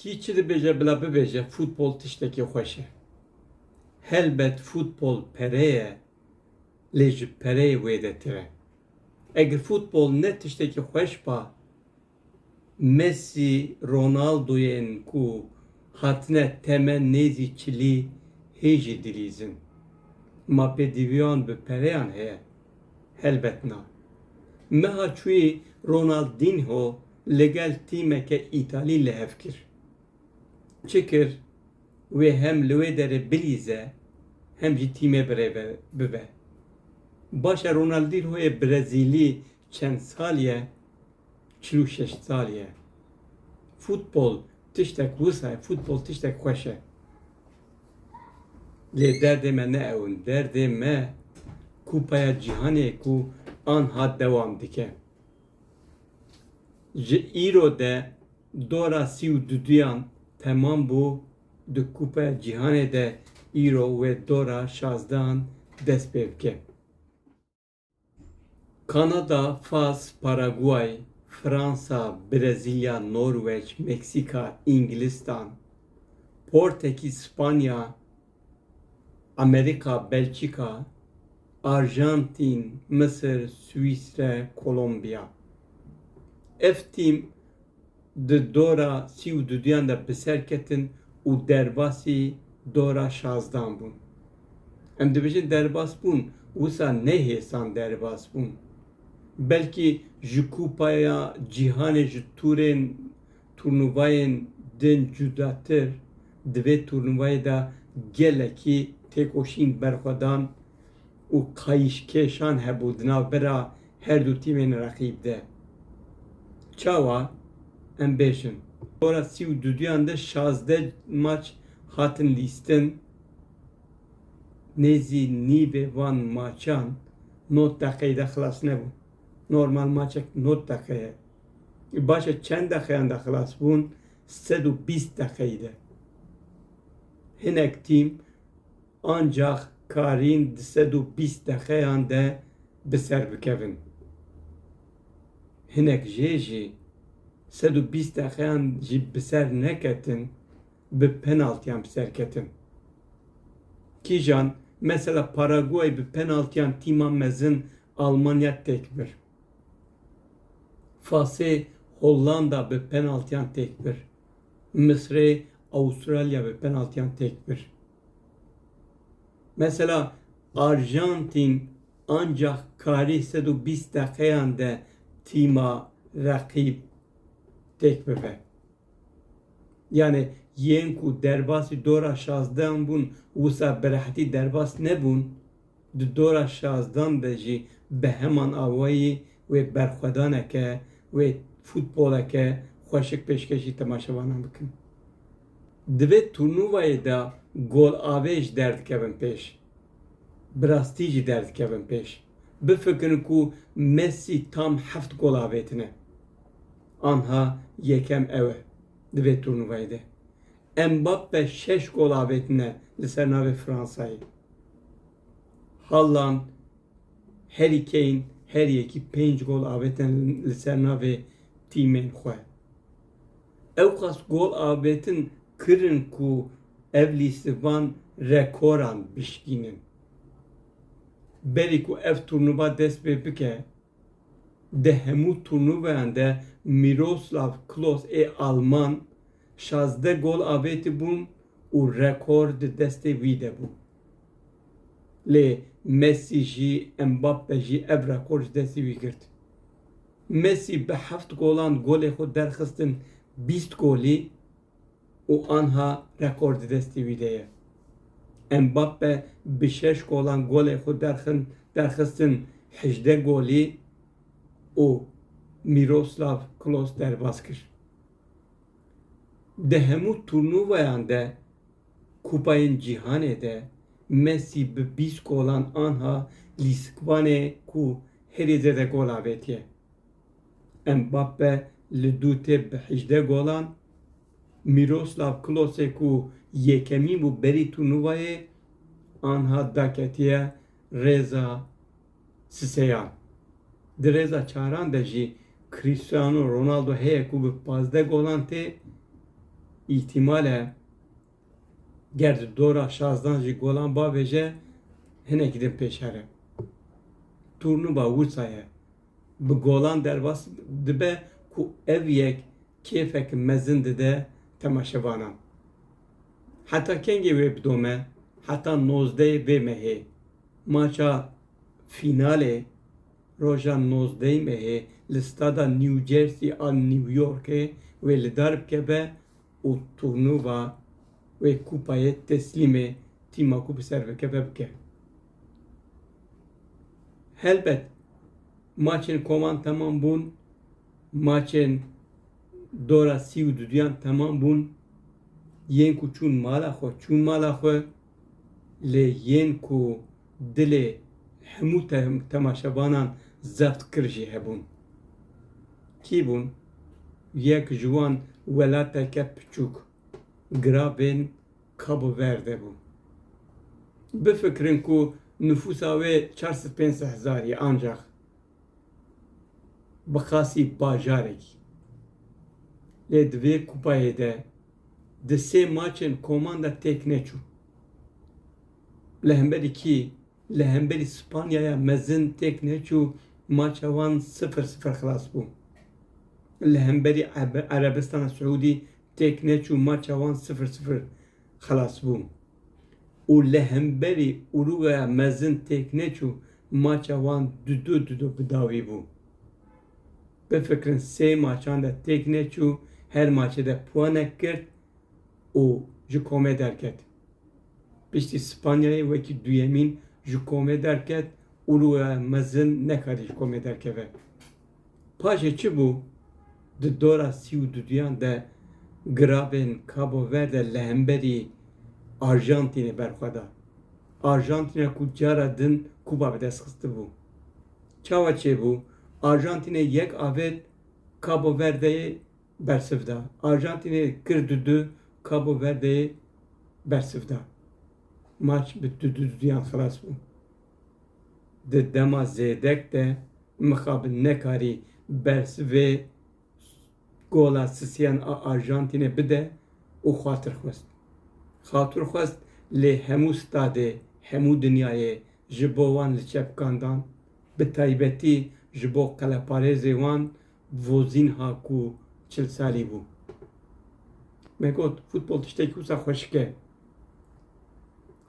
Kî çi dibêje bila bibêje futbol tiştekî xweş e. Helbet futbol pere ye lê ji pereyê wêdetir e. Eger futbol ne tiştekî xweş ba Mesî, Ronaldoyên ku hatine temen nêzî çilî hê jî dilîzin. Ma pêdivîyan bi pereyan heye. Helbet na. Meha çûyî Ronaldinho li gel tîmeke Îtalî li hev kir. Çi kir? Wê hem li wê derê bilîze hem jî tîmê bi rê bibe. Baş e Ronaldinhoyê Brezîlî çend sal ye? Çil û şeş sal ye. Futbol tiştek wisa ye, futbol tiştek xweş e. Lê derdê me ne ew in. Derdê me Kupaya Cîhanê ye ku anha dewam dike. Ji îro de dora sî û duduyan temam bû, di Kupaya Cîhanê de îro wê dora şazdehan dest pê bike. Kanada, Fas, Paraguay, Fransa, Brezîlya, Norweç, Meksîka, Înglistan, Portekîz, Spanya, Amerîka, Belçîka, Arjantîn, Misir, Swîsre, Kolombiya. Ev tîm. Di dora sî û duduyan de bi ser ketin û derbasî dora şazdan bûn. Em dibêjin derbas bûn, wisa ne hêsan derbas bûn. Belkî ji Kupaya Cîhanê ji tûrên turnuvayên din cudatir, di vê turnuvayê de gelekî têkoşîn berxwedan. û kayîşkêşan hebû di nav bira her du tîmên reqîb de. Çawa? Em bêş in. Bora sî û duduyan de şazdeh maç hatin lîstin. Nêzî nîvê van maçan nod deqeyî de xilas nebûn. Normal maçek nod deqe ye. Baş e çend deqeyan de xilas bûn? Sed û bîst deqeyî de. Hinek tîm. ancax karîn di sed û bîst deqeyan de bi ser bikevin. Hinek jê jî sed û bîst deqeyan jî bi ser neketin bi penaltiyan bi ser ketin. Kîjan mesela Paraguay bi penaltiyan tîma mezin Almanya têk bir. Fasê Hollanda bi penaltiyan têk bir. Misrê Avustralya bi penaltiyan têk bir. Mesela Arjantîn ancax karî sed û bîst deqeyan de tîma reqîb têk bibe. Yanî yên ku derbasî dora şazdehan bûn wisa bi rehetî derbas nebûn. Di dora şazdan de jî bi heman awayî wê berxwedaneke wê futboleke xweşik pêşkêşî temaşevanan bikin. Di vê turnûvayê de golavêj derdikevin pêş. Bi rastî jî derdikevin pêş. Bifikirin ku Mesî tam heft gol avêtine. Anha yekem ew e di vê turnûvayê de. Mbappe şeş gol avêtine li ser navê Fransayê. Hallan Harry Kane her yekî pênc gol avêtin li ser navê tîmên xwe. Ewqas gol avêtin kirin ku ev lîste van rekoran bişkînin. Berî ku ev turnuva dest pê bike, di hemû turnuvayan de Miroslav Klose ê Alman Şazdeh gol avêtibûn û rekor di destê wî de bû. Lê Messi jî Mbappe jî ev rekor ji destê wî girt. Messi bi heft golan golê xwe derxistin bîst golî û anha rekor di destê wî de ye. Mbappe bi şeş golan golê xwe derxin derxistin hejdeh golî û Miroslav Klose derbas kir. Di hemû turnuvayan de Kupayên Cîhanê de Mesî bi bîst golan anha lîskvanê ku herî zêde gol avêtiye. Mbappe li dû têp bi hejdeh golan, Miroslav Klose ku yekemîn bû berî turnuvayê anha daketiye rêza Siseyan, Di rêza çaran de jî Cristiano Ronaldo heye ku bi pazdeh golan tê, îhtîmal e ger di dora şazdan jî golan bavêje hinekî din pêşere. Turnûva wisa ye. Bi golan derbas dibe ku ev yek kêfek mezin dide temaşevanan. Heta kengê wê bidome? Heta nozdeyê vê mehê. Maça fînalê roja nozdeyî mehê li stada New Jersey a New Yorkê wê li dar bikeve û turnûva wê kupayê teslîmê tîma ku bi ser bikeve bike. Helbet maçên kovan temam bûn, maçên dora sî û duduyan temam bûn, yên ku çûn mala xwe çûn mala xwe. lê yên ku dilê hemû temaşevanan zext kir jî hebûn. Kî bûn? Yek ji wan welateke piçûk, Grabên Cabo Verde bû. Bifikirin ku nifûsa wê çar sed pênc sed hezar ye ancax. bi qasî bajarekî. Lê di vê kupayê de di sê maçên koman de têk neçû. Li hemberî kî? Li hemberî Spanyaya mezin têk neçû, maça wan sifir sifir xilas bû. Li hemberî Erebistana Siûdî têk neçû, maça wan sifir sifir xelas bû û li hemberî Urugaya mezin têk neçû maça wan dido dido bi dawî bû. Bifikirin sê maçan de têk neçû her maçê de puanek girt û ji komê derket. Piştî Spanyayê wekî duyemîn ji komê derket, Urugaya mezin nekarî ji komê derkeve. Paşê çi bû? Di dora sî û duduyan de giravên Cabo Verde li hemberî Arjantînê berxwe da. Arjantîna ku cara din Kuba bi dest xistibû. Çawa çêbû? Arjantînê yek avêt Cabo Verdeyê bersiv da. Arjantînê kir dudu Cabo Verdeyê bersiv da. Maç bi duduyan xilas bû. Di dema zêdek de mixabin nekarî berz vê gola sisiyan a Arjantînê bide û xatir xwest. Xatir xwest lê hemû stadê hemû dinyayê ji bo wan li çepkan dan, bi taybetî ji bo qeleparêzê wan Vozinha ku çil salî bû me got, Futbol tiştekî wisa xweşik e.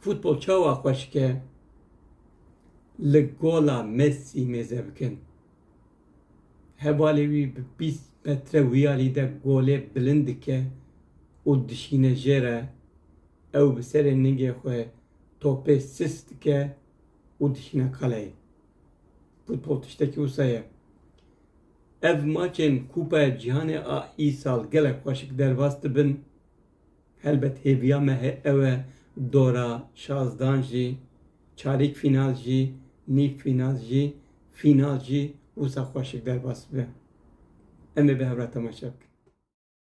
Futbol çawa xweşik e? Li gola Mesî mêze bikin. Hevalê wî bi bîst metre wiyalî de golê bilind dike û dişîne jê re. Ew bi serê ningê xwe topê sis dike û dişîne qaleyê. Futbol tiştekî wisa ye. Ev maçên Kupaya Cîhanê a îsal gelek xweşik derbas dibin. Helbet hêviya me ew e dora şazdan jî, çarêk fînal jî, nîv fînal jî, fînal jî wisa xweşik derbas bibe. Em ê bi hev re temaşe bikin.